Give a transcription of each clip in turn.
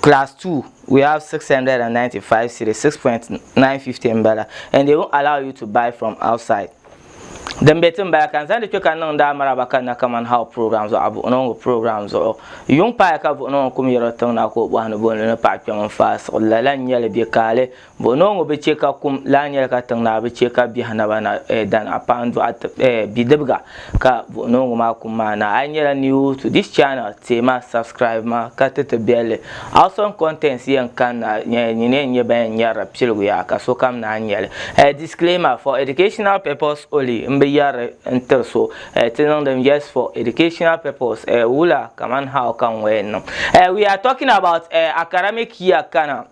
class 2 we have 695 cedi 6.950 mbala and they won't allow you to buy from outside din be tin bala kan zandi kpe kan niŋ daa maraba kan na kaman how program zuɣu buɣunongo program zuɣu yuŋ paaya ka buɣunongo kum yɛro tiŋ na ka o bɔhi ni bɔ ni ni paɣa kpɛm n faai siɣili lala n nyɛli bɛ kaali Bo noo ŋɔ bi chɛ ka kum lahi nyɛli ka tiŋ naa bi chɛ ka biɛhi naba na eh, dan a paɣa n-dɔɣi eh, bidibga ka buɣi noo ŋɔ maa kum maa na. A yi nyɛla new to this channel, teei ma subscribe ma ka ti ti biɛlli. Awesome contents yɛn kanna eh, nyin yɛn nyɛ ban yɛn nyɛrila piligu yaa ka sokam naan nyɛli. Eh, disclaimer, for educational purpose only m bi yɛri n tiri so eh, ti niŋdim just for educational purpose eh, wula kaman how ka ŋɔ yɛn niŋ. Eh, we are talking about eh, academic year kana.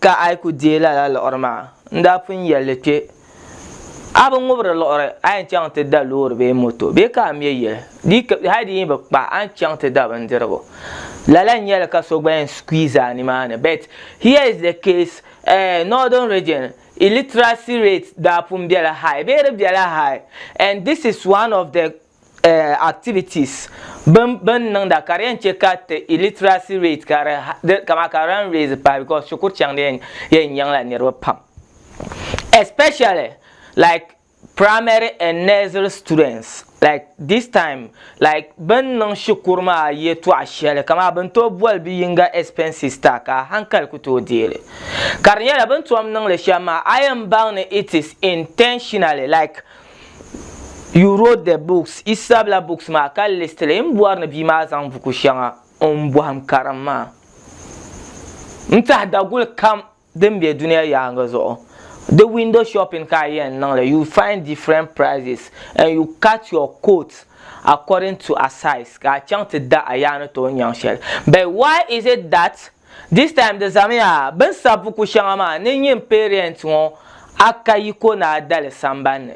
Ka a yi ku deei lala liɣiri maa, n daa pun yɛli li kpe, A bi ŋubiri liɣiri, a yɛn chaŋ ti da loori bee moto, bee ka a me yili, di yi hali di yi bi kpa, a ni chaŋ ti da bindirigu. Lala n-nyɛ li ka so gba yɛn squeeze a nimaani. But here is the case, eh, Northern Region, illiteracy rate daa pun bela high, bee di bela high, and this is one of the eh, activities bin bin niŋda ka di yɛn chɛ ka ti illiteracy rate ka di kama ka di yɛn raise pahi because shikuru chaŋ di yɛn nyaŋla niriba pam especially like primary and nursery students like this time like bin niŋ shikuru maa yɛtɔɣa shɛli kama bin tooi boli bi yinga expenses ta ka hankali ku tooi deeli ka di nyɛla bin tom niŋli shɛm maa a yɛn baŋ ni it is intentionally like You wrote the books, yi sabila books maa ka list li. N bɔri ni bia maa zaŋ buku shɛŋa n bɔhim karim ma. N tahi daguli kam din be duniya yaaŋa zuɣu. Di window shopping ka a yɛn niŋ li, you find different prices and you cut your coat according to a size ka a chaŋ ti da a yaa ni tooi nyaŋ shɛli. But why is it that This time di zamiya bini sabi buku shɛŋa maa ni nyin parent ŋɔ a ka yiko ni a dali samban ni.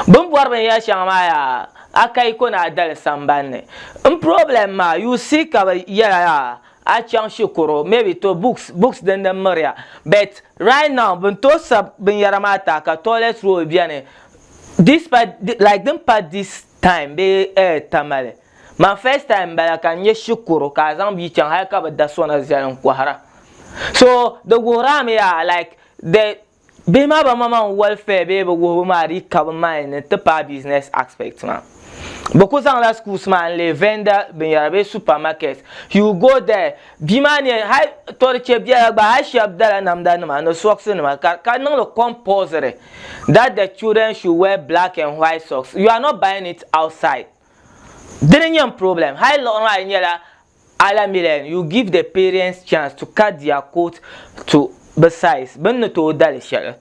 Bini bɔri binyɛri shɛŋa maa yaa a ka yiko ni a dali samban ni. N problem maa you see ka bi yɛla yaa a chaŋ shikuru maybe to books books din din miriya but right now bini tooi sabi binyɛra maa taa ka toilet roll beni despite like din pa this time bee eh tamale. My first time m-bala ka n nyɛ shikuru ka a zaŋ bia chaŋ hali ka bi da sona zali n kɔhira. So di wuhiri a mi yaa like the bihi maa ban ma ma n welfare bee bi wuhibu maa dii ka bi mind ni ti paai business aspect maa. Bi ku zaŋ la schools maa n leei vendor binyara bee super market. You will go there bia maa ni yɛn hali to di che biɛla gba hali shɛba dala namda nima ni socks nima ka ka niŋ li compulsory that the children should wear black and white socks you are not buying it outside. Dini nyɛm problem hali liɣiri maa di nyɛla alamilen you give the parents chance to cut their coat to be size bini ni tooi dali shɛli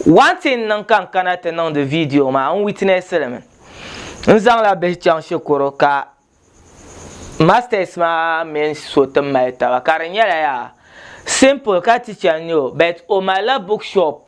one thing niŋ ka n kana ti niŋdi video maa n witness li mi n zaŋla bihi chaŋ shikuru ka masters maa mini so ti mali taba ka di nyɛla yaa simple ka teacher n nyɛ o but o malila book shop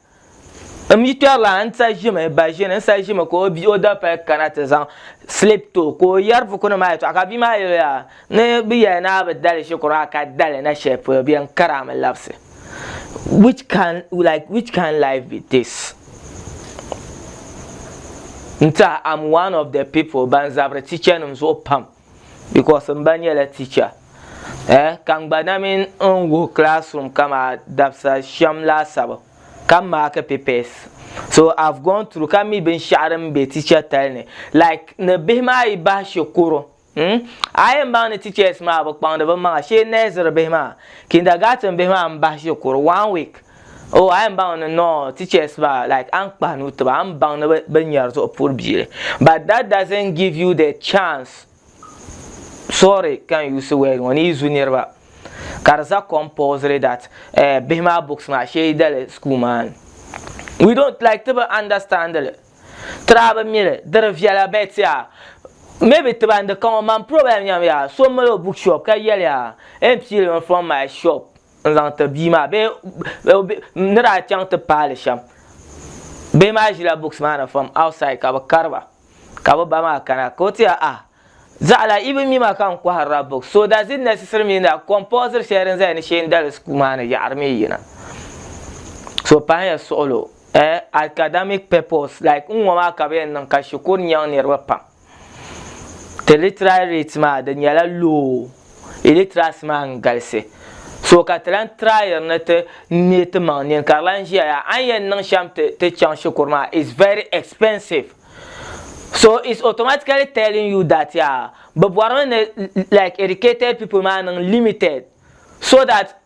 M yi kpɛrila n sa ʒimi ba ʒini n sa ʒimi ka o bia o dabipali kana ti zaŋ slip to ka o yɛri buku nim maa yɛtɔɣa ka bia maa yɛli yaa ni bi yɛli ni a bi dali shikuru maa ka dali na shɛli polo bɛ n kari a mi labisi which can like which can life be this n tiɛha am one of the people ban zabiri teacher nim zuɣu pam because m ba nyɛla teacher eh ka n gba na mini n wuhi classroom kama dabisa shem laasabu ka m maaki papers so I've gone through ka mi binshaɣu din be teacher tali ni like ni bihi maa yi bahi shikuru hmm a yi yɛn baŋ ni teachers maa bi kpaŋdi bi maŋa shee nursery bihi maa kindergarten bihi maa m bahi shikuru one week Oh a yɛn baŋ ni nɔɔ teachers maa like a ni kpahi nuu tiba a ni baŋ ni bɛ nyari zuɣu puhiri bia li but that doesn't give you the chance sorry ka n use word ŋɔ ni yi zu niriba ka di za compulsory that eh, bihi maa books maa sheedali school maa ni we don't like ti bi understand li tira bi mi li diri viɛla bet yaa maybe tiba n di ka ŋɔ man problem nyam yaa so mali o bookshop ka yɛli yaa e n pii li mi from my shop n zaŋ ti bia maa bee ni daa chaŋ ti paali shɛm bihi maa ʒila books maa ni from outside ka bi kariba ka bi ba maa kana ka o ti ah zaɣala i bi mi ma ka n kɔhirila books so does it necessary mean that compulsory shɛli din zaya ni sheendali school maa ni yaɣari mi yina so pahiya suɣulo eh academic purpose like n ŋɔ maa ka bi yɛn niŋ ka shikuru nyaŋ niriba pam Ti literary rate maa di nyɛla low, illiteracy maa n galisi. So ka ti lan tryiri ni ti neei ti maŋ nini ka di lan ʒiya yaa a ni yɛn niŋ shɛm ti ti chaŋ shikuru maa it's very expensive. So it's automatically telling you that yaa bɛ bɔrimi ni like educated people maa niŋ limited so that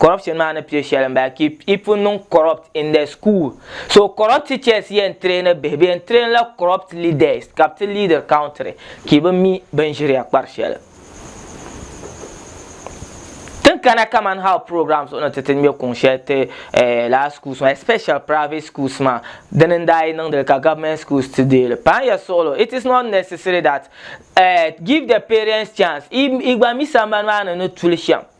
corruption maa ni pili shɛli n bala ki i pun niŋ corrupt in the school so corrupt teachers yɛn traini bihi bi yɛn train la corrupt leaders ka bi ti leader country ki bi mi bin ʒiriya kpari shɛli tin kana kaman how program zuɣu ni ti ti ŋmɛ kuŋ shɛli ti eh, laa schools maa especially private schools maa dini n daa yi niŋdili ka government schools ti deeli paŋ ya suɣulo it is not necessary that eh, give the parents chance i, i gba mi sambani maa ni ni tuli shɛm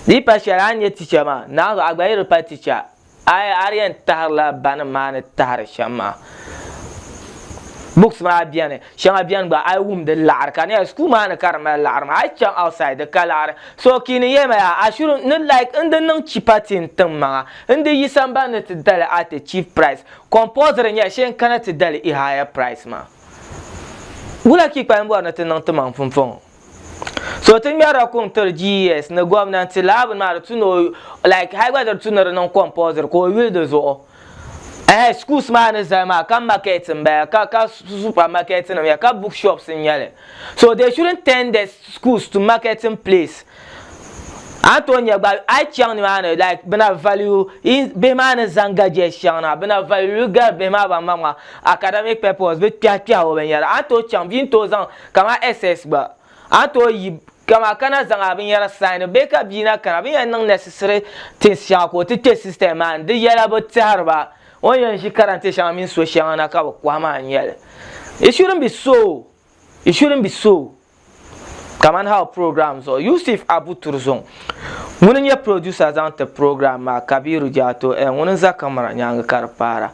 Di pa shɛli a ni nyɛ ticha maa, naanzu a gba yi di pa ticha, a a di yɛn tahirila banim maa ni tahiri shɛm maa. Books maa beni, shɛŋa beni gba a yi wum di laɣiri ka di nyɛla school maa ni ka di mali laɣiri maa. A yi chaŋ outside di ka laɣiri. So Kiini yɛli ma yaa, a shouldn't, ni like n di niŋ cheaper ti n tiŋ maŋa, n di yi sambani ni ti dali at a cheap price. Compulsory n-nyɛ shee n kana ti dali i higher price maa. Wula ka i kpalim bɔri ni ti niŋ ti maŋ pumpɔŋɔ? So ti ŋmɛrila kuŋ tiri GES ni gomnanti laa bini maa di tu ni o like hali gba di tu ni di niŋ compulsory ka o yuli di zuɣu ehe schools maa ni zali maa ka market n bala ka ka supermarket nim ya ka book shops n nyɛli so they shouldn't turn the schools to marketing place a ni tooi nyɛ gba a yi chaŋ nimaani like bina value in bihi maa ni zaŋ gadgets chaŋ na bina value gari bihi maa ban maŋmaŋ academic purpose bi kpɛhi kpɛhi o binyɛra a ni tooi chaŋ bia ni tooi zaŋ Kama SS gba, a ni tooi yi kama ka na zaŋ a binyɛra saini bee ka bia na kana bɛ ni yɛn niŋ necessary things shɛŋa ka o ti kpe system maa ni di yɛla bɛ tɛhiri ba o ni yɛn ʒi karante shɛŋa mini so shɛŋa na ka bɛ kɔhi maa n-nyɛli. It shouldn't be so! It shouldn't be so! Kamani hal program zuɣu Yusuf Abu Turzung ŋuni n-nyɛ producer zaŋ ti program maa Kabiru Jato eh ŋuni n-za camera nyaaŋa ka di paara.